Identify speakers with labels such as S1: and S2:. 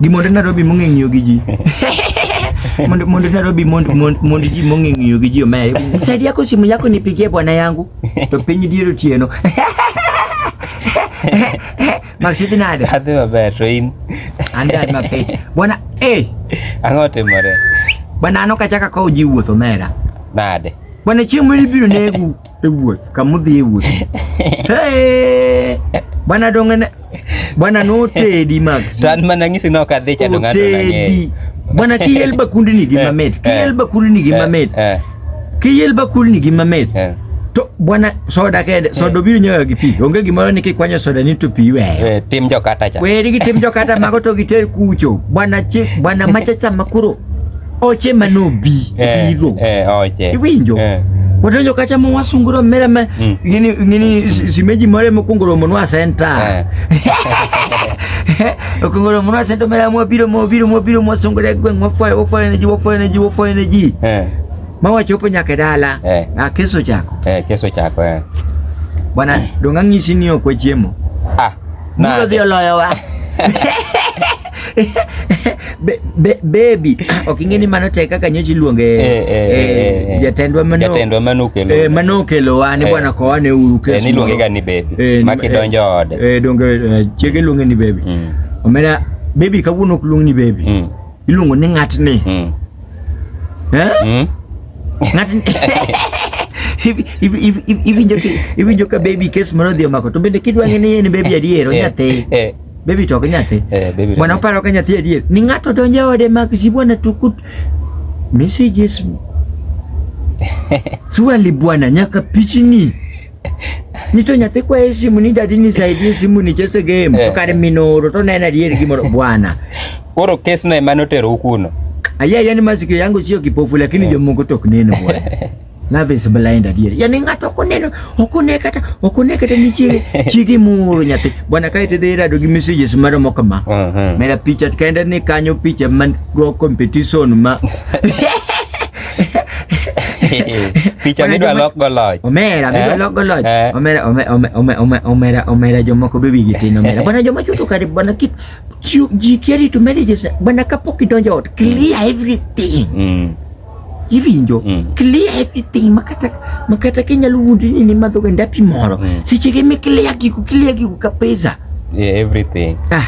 S1: gi monde Nairobi mong'e ng'iyo gi ji monde monde Nairobi monde monde monde ji mong'e ng'iyo gi ji omere saidia yako simu yako nipigie bwana yangu to piny dier otieno Maxidi nade Adhi maber to in
S2: an dad mapiyo
S1: bwana eh ang'o
S2: otimore? bwana an ok
S1: achaka kowo ji wuoth omera Nade?
S2: bwana chieng' moro
S1: ibiro negu ewuoth kamudhi e wuoth bwana dong'ene bwana notedi mag to an mana ng'isi ni ok
S2: adhi chando ng'ato nang'eyo bwana kiyel
S1: bakundni gi eh, mamit eh. kiyel bakundni gi eh, mamit kiyel bakundni gi mamit to bwana soda kende soda obiro nyoyo gi pi onge gimoro ni kikwanyo soda ni to pi weyo tim jokata cha
S2: weri gi tim jokata mago
S1: to giter kucho bwana chik bwana machacha makuro oche manobi Eh, biro eh, oche. Iwinjo?
S2: Eh.
S1: wadonjo kacha ma wasunguro mere ma Mm. gini gini si- simeji mare mokwongo romo nwa senta okwongo romo nwa senta mere mwabiro mwabiro mwabiro mwasungore gweng' wafwayo wafwayo ne ji wafwayo ne ji wafwayo ne ji Eh, ma wachopo nyaka e dala Eh. Ah, keso chako eh, keso chako eh.
S2: bwana
S1: dong' ang'isi ni ok wachiemo Ah, mulo nade? dhi oloyowa Be- be- baby ok ing'e ni mano tek kaka nyocha iluonge Eh, eh, eh, eh, eh. jatendwa mano Jatendwa mano okelo. eh, mano okelowa ni Eh. bwana kowane uru Eh, kes niluonge moro. ga ni baby.
S2: Eh, ni- Ma kidonjo eh, ode. eh, donge eh, chiege
S1: luonge ni baby Mm. omera baby kawuono ok luong ni baby Mm. iluongo ni ng'atni Mm. Eh? Mm. Ng'atni- Iwi- iwi- iwi- iwi- iwinjo ka- iwinjo ka baby kes moro odhi omako to bende kidwa ng'e ni en baby adier Eh, onyathi eh. Baby to ka nyathi. Eh, baby. Bwana oparo ka nyathi adier. Ni ng'ato donjo e ode mak si bwana tukut messages. Swali bwana nyaka pichini. Nito nyathi kwa e simu ni dadi ni saidi e simu ni chese game. Eh. Kare minoro to nena adier gimoro bwana. Koro case
S2: no emane otero ukuno. Aya yani masikio
S1: yangu sio kipofu lakini eh. jomoko tok neno bwana. Love is blind adier. Yaani ng'ato ok oneno, ok one kata, ok one kata ni chiege, chiege moro nyathi. Bwana kae te dhi rado gi messages maro mo kama. Uh mhm. -huh. Mera picha kaenda ni kanyo picha man go competition ma.
S2: picha ni dwa lok go loj. Omera, mi dwa eh? lok go
S1: loj. Eh? Omera, omera, omera, omera, omera, omera jomoko be wigi tin omera. Bwana joma chuto kare bwana kip ji kieri to marriages bwana kapok idonjo ot clear everything. Mm. iwinjo mm. clear everything makata makata kinyalo wuondo ni ni madho ga ndapi moro mm. seche ge mi clear giku clear giku ka pesa yeah, everything ah